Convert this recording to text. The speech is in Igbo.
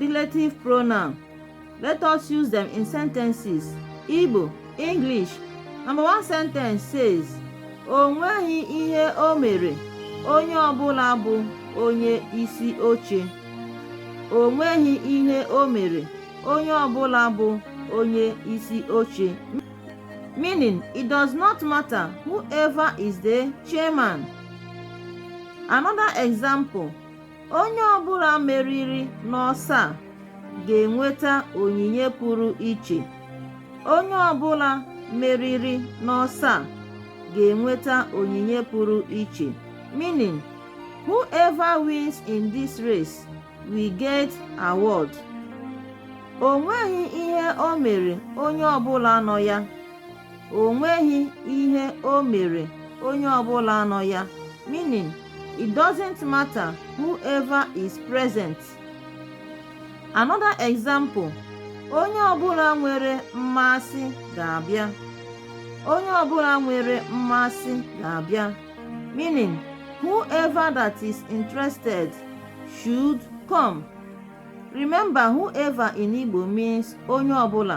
relative pronoun let us use them in sentences igbo english number one sentence says o nweghị ihe o mere onye ọbụla bụ onye isi oche o nweghị ihe o mere onye ọbụla bụ onye isi oche meaning it does not matter whoever is the chairman another example onye ọbụla meriri n'ọsọ a ga-enweta onyinye pụrụ iche onye ọbụla meriri n'ọsọ a ga-enweta onyinye pụrụ iche meaning whoever wins in this race will get award o nweghị ihe o mere onye ọbụla nọ ya o nweghị ihe o mere onye ọbụla nọ ya meaning it doesn't matter whoever is present another example onye ọbụla nwere mmasị ga-abịa onye ọbụla nwere mmasị ga-abịa meaning whoever that is interested should come remember whoever in Igbo means onye ọbụla